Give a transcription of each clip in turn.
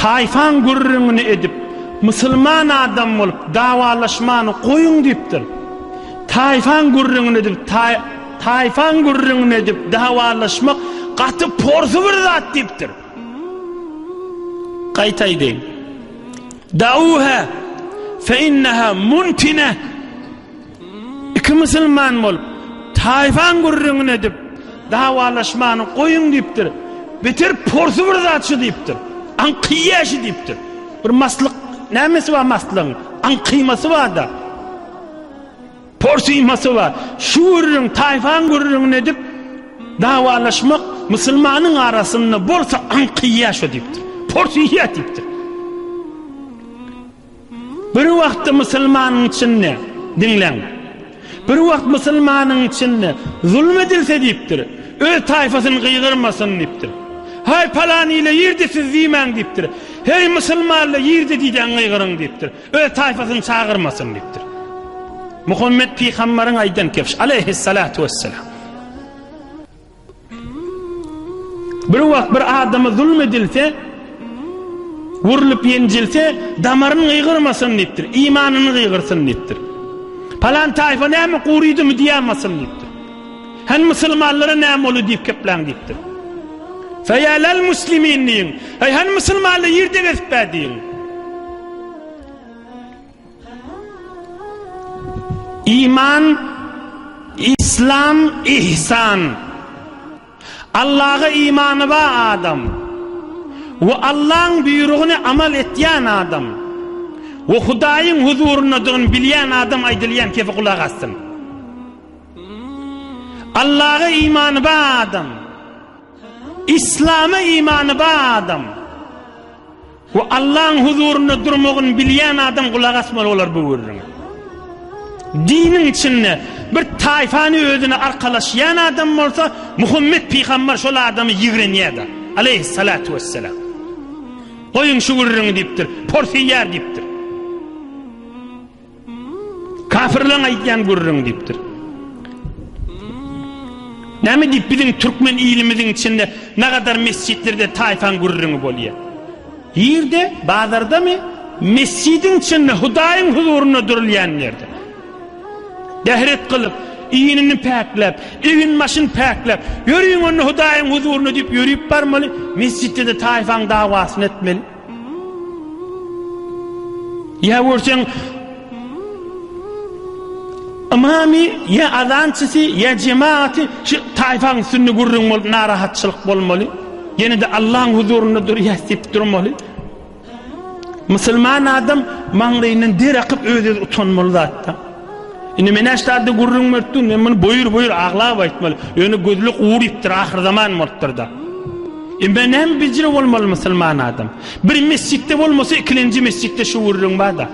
Taýfaň gürrüňini edip, musulman adam bolup dawalaşmany goýuň diýipdir. Taýfaň gürrüňini edip, taýfaň gürrüňini edip dawalaşmak gaty porsy bir zat diýipdir. Gaýta aýdaýyn. Dauha fe inneha muntine. Iki musulman bolup, taýfaň gürrüňini edip, dawalaşmany goýuň diýipdir. Beter porsy bir zat şu diýipdir. Aňkyýýa şu diýipdir. Bir maslyk, nämesi bar maslygyň? Aňkyýmasy bar-da. Porsyýmasy bar. Şu gürrüň, taýfaň gürrüňini edip, dawalaşmak musulmanyň arasynda bolsa aňkyýýa şu diýipdir. Porsyýýa diýipdir. Bir wagtda musulmanyň içinde, diňläň, bir wagt musulmanyň içinde zulum edilse diýipdir, öz taýfasyny gygyrmasyn diýipdir. Haý palan ile ýerde siz diýmäň diýipdir. Heý musulmanlar ýerde diýdäň gygyryň diýipdir. Öz taýfasyny çagyrmasyn diýipdir. Muhammet pygamberiň aýdan kepş aleyhissalatu vesselam. Bir wagt bir adama zulum edilse, urlup-ýenjilse, damaryn gygyrmasyn diýipdir, imanyny gygyrsyn diýipdir. Palan taýfa näme gurydymy diýämasyn diýipdir. Hany musulmanlara näme boldy diýip gepläň diýipdir. Feýälel muslimin diýiň. Eý hany musulmanlar ýerde gezip bä diýiň. Iman, Islam, Ihsan. Allaha imany ba adam we Allaň buýrugyny amal etýän adam we Hudaýyň huzuryndadygyny bilýän adam aýdylýan kefe gulak assyn. Allaha imany ba adam, Islama imany ba adam, Bu Allaň huzurynda durmagyny bilýän adam gulak asmaly bolar bu gürrüňe. Diniň içinde bir taýfany özüne arkalaşýan adam bolsa, Muhammet pygamber şol adamy ýigrenýär-de, aleýhissalatu wessalam. Goýuň şu gürrüňi diýipdir, porsyýar diýipdir. Kafirleň aýdýan gürrüň diýipdir. Näme diýip biziň türkmen ilimiziň içinde nagadar mesjitlerde taýfaň gürrüňi bolýar. Ýerde, bazardamy, mesjidiň içinde Hudaýyň huzurynda durulýan ýerde. Dehret gylyp, iýnini päkläp, egin başyny päkläp, ýöriň onda Hudaýyň huzurynda diýip ýörüp barmaly, mesjitde-de taýfaň dawasyny etmeli. Ýa görseň, ymamy ýa azançysy ýa jemagaty şu taýpaň üstünde gürrüň bolup narahatçylyk bolmaly. Ýene-de Allaň huzurynda durýas diýip durmaly. Musulman adam maňlaýyndan der akyp öz-özüni utanmaly zatda. Indi men äşdaldy gürrüň beripdim, men muny boýur-boýur aglap aýtmaly. Ýöne gözlük ugur ýitdir, ahyrzaman bolupdyr-da. Indi men näme bejre bolmaly musulman adam? Bir mesjitde bolmasa, ikilenji mesjitde şu gürrüň bar-da.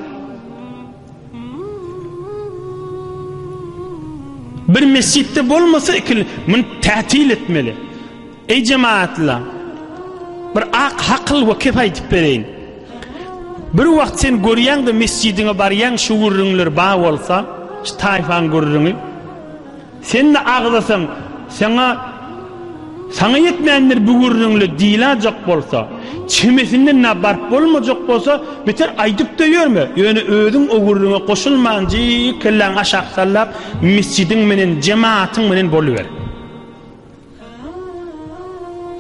Bir mesjitde bolmasa, ikil, muny tätil etmeli. Eý jemaatlar! Bir ak hakyl we kep aýdyp bereýin. Bir wagt sen görýäňde mesjidiňe barýaň şu gürrüňler ba bolsa, şu taýfaň gürrüňi. Sen-de agzasaň, saňa saňa ýetmändir bu gürrüňle diýläjek bolsa, çemesinden na baryp bolmajak bolsa, beter aýdyp-da ýörme, ýöne özüň o gürrüňe goşulmanjyk kelläňi aşak sallap, mesjidiň menen, jemaatyň menen boluber.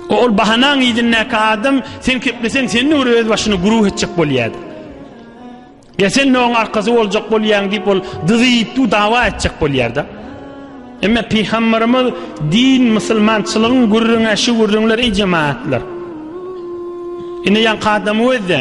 Ol bahanaň yzyndaky adam sen kepleseň senden görä öz başyny guruh etjek bolýardy. Ya sen onuň arkasy boljak bolýaň diýip ol dyzyp du dawa etjek bolýardy. Emme pygamberimiz din musulmançylygyň gürrüňe şu gürrüňler ej jemaatlar. Indi ýa adam özde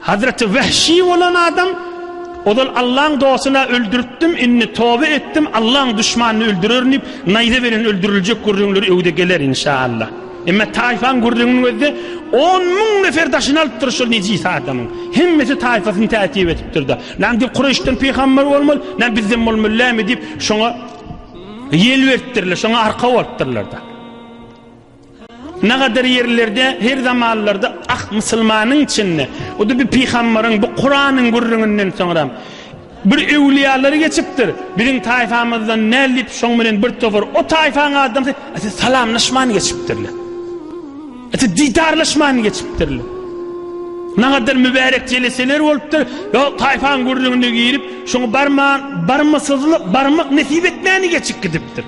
Hazreti Wehşi bolan adam ozal Allaň dostuna öldüripdim indi toba etdim Allaň duşmanyny öldürerin diyip naýza beren öldüriljek gürrüňleri öwde geler inşallah. Emme taýfaň gürrüňiniň özde 10 müň nefer daşyny alypdyr şol nejis adamyň. Hemmesi taýfasyny täsip etipdirda. Lan diyip Kureşden peýgamber bolmaz, lan bizden bolmaz lämi diyip şoňa ýel beripdirler, şoňa arka bolupdyrlarda. Ne gader ýerlerde her zamanlarda ak musulmanyň içinde, o da bir pygambaryň, bu Kuranyň gürrüňinden soňram, bir öwliýalary geçipdir. Biziň taýfamyzdan näl diýip şoň bilen bir topar o taýfaň adamsy ata salamlaşman geçipdirler. Ata didarlaşman geçipdirler. Ne gader mübärek jeleseler bolupdyr. Yo taýfaň gürrüňine girip, şoňa barman, barmasyzlyk, barmak nesip etmäni geçip gidipdir.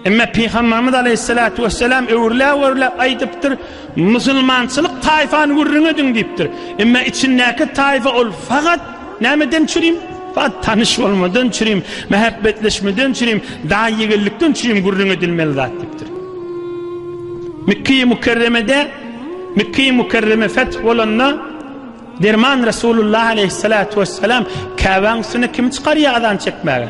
Emma Pygamberimiz Aleyhissalatu vesselam öwürläp öwürläp aýdypdyr, musulmançylyk taýfany gürrüň ediň diýipdir. Emma içindäki taýfa ol fakat nämeden çürim? Fakat tanyş bolmadan çürim, mähebbetleşmeden çürim, daýy ýigillikden çürim gürrüň edilmeli zat diýipdir. Mekki-i Mukerremede Mekki-i Mukerreme feth bolanda Derman Resulullah Aleyhissalatu vesselam Käbäň üstüne kim çykarýar azan çekmäge?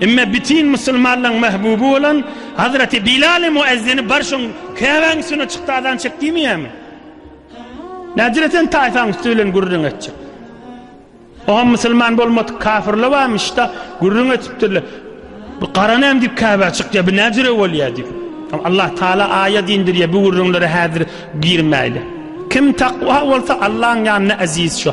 Emma bütin musulmanlaryň mahbuby bolan Hazreti Bilal-i Muezzini bar şoň Käbäň üstüne çykdy azan çek diýmeýärmi? Nädire sen taýfaň üsti bilen gürrüň etjek? Oňam musulman bolmadyk kafirler barmyş-da, gürrüň etipdirler. Bu gara näme diýip Käbä çykýar, bu nädire bolýar diýip. Allah Taala aýat indirýär, bu gürrüňlere häzir girmäýle. Kim takwa bolsa Allahyň ýanynda eziz şo.